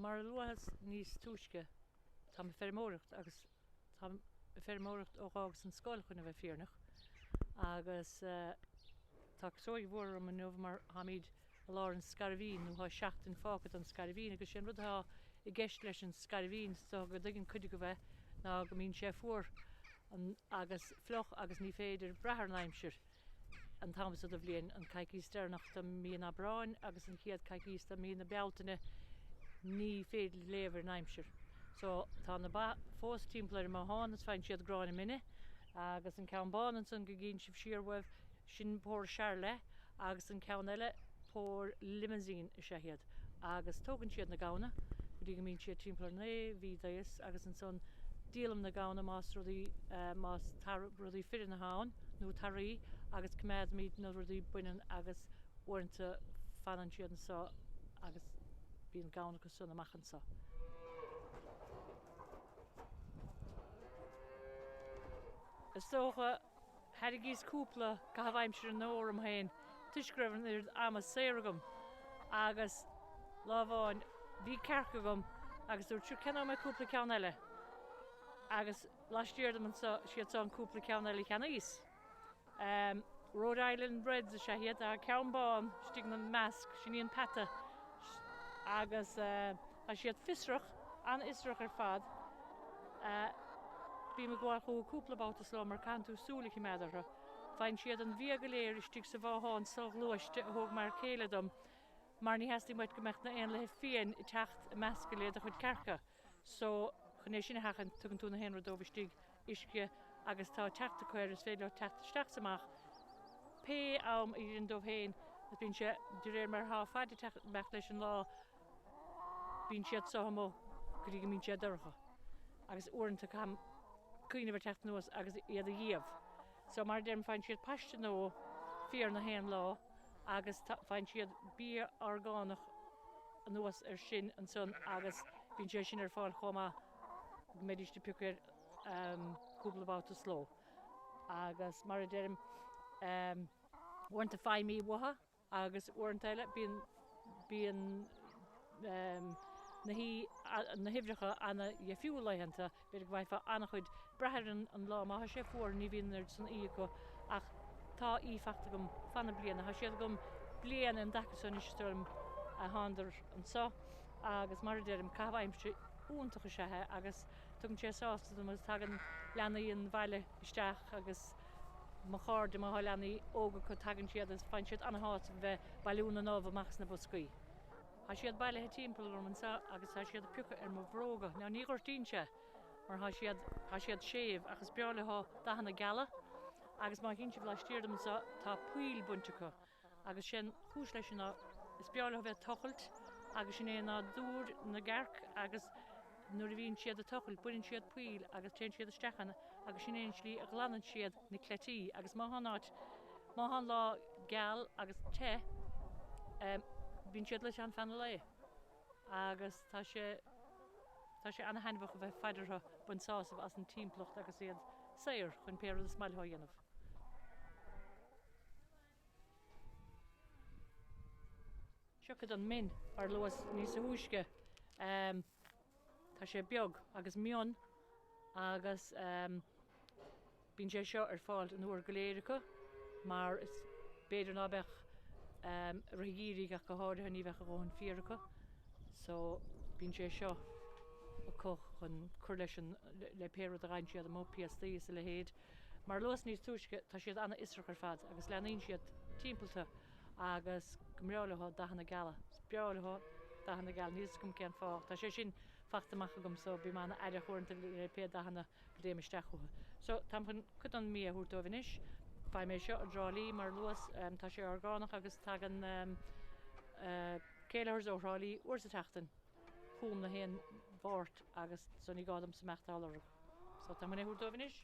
mar a luas níos túisce táim ag feirmeoireacht agus táim ag feirmeoireacht ó d'fhágas an scoil chun a bheith fírinneach agus eh, tá casóig mhór orm inniu mar táimid I lár an scairbhín, nó tá seachtain fágtha don scairbhín, agus sé an rud atá i gceist leis an scairbhín, is dócha go dtuigeann cuid agaibh é, ná go mbíonn sé fuar agus fliuch agus ní féidir brath ar an aimsir an t-am so de bhliain, an coicíos deireanach de mhí an Aibreáin agus an chéad coicíos de mhí na Bealtaine, ní féidir léamh ar an aimsir. So, tá na ba fós timpeall ar an mbothán is faigheann siad gráinne mine agus an ceann bán ansan go gcíonn sibh siar uaibh, Sin pór Charolais agus an ceann eile pór Limousine is ea iad agus tógann siad na gamhna go dtí go mbíonn siad timpeall ar naoi mhí d'aois agus ansan díolaim na gamhna más rudaí, más rudaí fireann atá ann nó taraí agus coimeádaimid na rudaí baineann agus uaireanta fanann siad anso agus bíonn gamhna acu san amach anso. Is dócha Tharraingíos cúpla caitheamh aimsire nua orm féin toisc go raibh an oiread ama saor agam agus lá amháin bhí cearc agam agus dúirt, Sure, ceannóidh mé cúpla ceann eile. Agus laistiar díom anseo, siad seo an cúpla ceann eile a cheannaíos. Rhode Island Reds is ea iad, ceann bán istigh ina measc, sin í an peata. Agus. Tá siad fiosrach, an-fhiosrach ar fad. Bím ag gabháil chucu cúpla babhta sa ló mar caitheann tú súil a choimeád orthu. Faigheann siad an bia go léir istigh sa bhothán so-ghluaiste a thóg m'fhear céile dom mar ní theastaíonn uait go mbeadh na héanlaithe fiáin ag teacht ag meascadh le do chuid cearca. So, chun é sin a sheachaint, tugann tú na haon rud dóibh istigh, uisce agus tá teacht acu air, is féidir leo teacht isteach is amach pé am a oireann dóibh féin agus bíonn sé de réir mar atá faid ag teacht, imeacht leis an lá. Bíonn siad seo amuigh go dtí go mbíonn sé dorcha agus uaireanta caithim cuimhneamh ar theacht anuas agus iad a iamh. So mar a deirim faigheann siad paiste nua féir na haon lá agus faigheann siad bia orgánach anuas ar sin ansan agus bíonn sé sin ar fáil chomh maith go mbeidís ag piocadh air cúpla babhta sa ló agus mar a deirim uaireanta faighim uibhe uathu. agus uaireanta eile bíonn bíonn na na huimhreacha an-dheifriúil laethanta, b'fhéidir go bhfaighfeá an-chuid brath ar an an lá má tá sé fuar ní bhíonn an oiread san uibhe acu ach tá uibhe fachta agam fan na bliana, tá siad agam bliain an dtaca seo anois is dóigh liom ó thángadar anseo agus mar a deirim caitheamh aimsire iontach is ea é agus tugann sé sásamh dom agus tagann leanaí an bhaile isteach agus mo chairde, mo leanaí óga acu, tagann siad agus faigheann siad an-shásamh ag bheith ag bailiú na n-ubh amach as na boscaí. Tá siad bailithe timpeall orm anseo agus tá siad ag piocadh ar mo bhróga. Now ní ghortaíonn sé mar tá siad, tá siad séimh ach is breá leo dathanna geala agus má théann sibh laistiar dom anseo tá poill bainte acu. agus sé'n chúis le sin ná, is breá leo bheith ag tochailt agus sin é nádúr na gcearc agus nuair a bhíonn siad ag tochailt baineann siad poill agus téann siad isteach ann agus sin é an slí a ghlanann siad na cleití agus má thá an áit, má thá an lá geal agus te, bíonn siad luite ann fan an lae agus tá sé, tá sé ana-thaitneamhach a bheith ag faire orthu, baint sásamh as an timpeallacht agus iad saor chun pé rud is maith leo a dhéanamh. Seo cuid den min ar luas níos thúisce, tá sé beag agus mion agus bíonn sé seo ar fáil an uair go léir acu mar is b'fhéidir ná beadh i rith an gheimhridh ach go háirithe ní bheadh a dhóthain féar acu so bíonn sé seo acu chun cur leis an le pé rud a gheibheann siad amuigh, piastaí is a leithéid. Mar a luas níos túisce, tá siad an-fhiosrach ar fad agus leanaíonn siad timpeall tú agus go mbreá leo dathanna geala. Is breá leo dathanna geala, níl 'fhios agam cén fáth. Tá sé sin fachta amach agam so bím an-aireach uaireanta le pé dathanna go dtéim isteach chucu. So, táim chun cuid den mbia a thabhairt dóibh anois. Faighim é seo i dTrá Lí, mar a luas, tá sé orgánach agus tagann Kellihers ó Thrá Lí uair sa tseachtain chugam, gach aon Mháirt, agus so ní gá domsa imeacht á lorg. So táim chun é a thabhairt dóibh anois.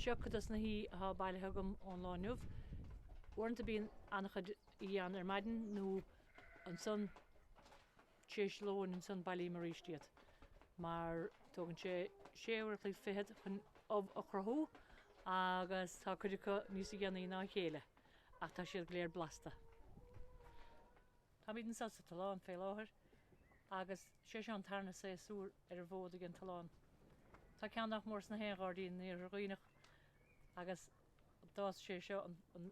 Seo cuid dos na huibhe athá bailithe agam ón lá inniu. Uaireanta bíonn an-chuid Ián ar maidin nó ansan tar éis lóin ansan bailím aríst iad mar tógann sé sé uair a chloig fichead chun ubh a chruthú agus tá cuid acu níosa dhéanaí ná a chéile ach tá siad go léir blasta. Táimíd anso sa tollán fé láthair agus sé seo an tarna saosúr ar an bhfód ag an tollán. Tá ceann nach mór sna haon ghairdín in Iarthar Dhuibhneach agus tá sé seo an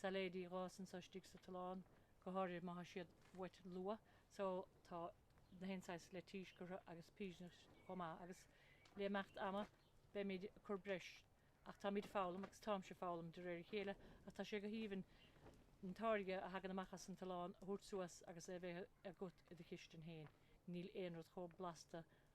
sailéidí a dh'fhás anso istigh sa tollán, go háirithe má thá siad uait luath, so tá na haon saghas leitís curtha agus piseanna chomh maith agus le imeacht ama beimid ag cur breis ach táimid ag foghlaim agus táimse ag foghlaim de réir a chéile ach tá sé go haoibhinn an táirge a thagann amach as an tollán a thabhairt suas agus é a bheith agat i do chistin féin, níl aon rud chomh blasta le.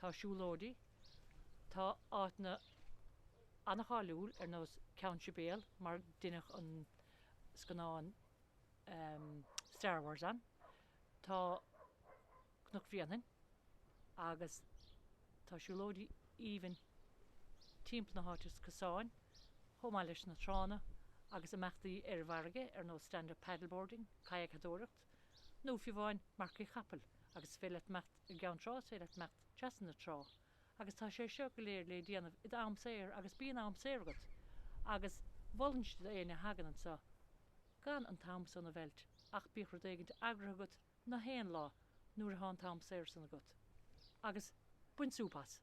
Tá siúlóidí, tá áiteanna an-cháiliúil ar nós Ceann Sibéal mar a deineadh an scannán Star Wars ann, tá Cnoc Bhréanainn agus tá siúlóidí aoibhinn timpeall na háite is cosáin chomh maith leis na tránna agus imeachtaí ar an bhfarraige ar nós stand-up paddleboarding, kayakadóireacht. nó fiú amháin marcaíocht chapall, agus féidir leat imeacht i gCeann Trá is féidir leat imeacht trasna na trá, agus tá sé seo go léir le déanamh id am saor agus bíonn am saor agat, agus mholfainnse d'éinne a thagann anso gan an t-am san a mheilt ach bíodh rud éigint eagraithe agat na haon lá nuair athá an t-am saor san agat, agus bain súp as.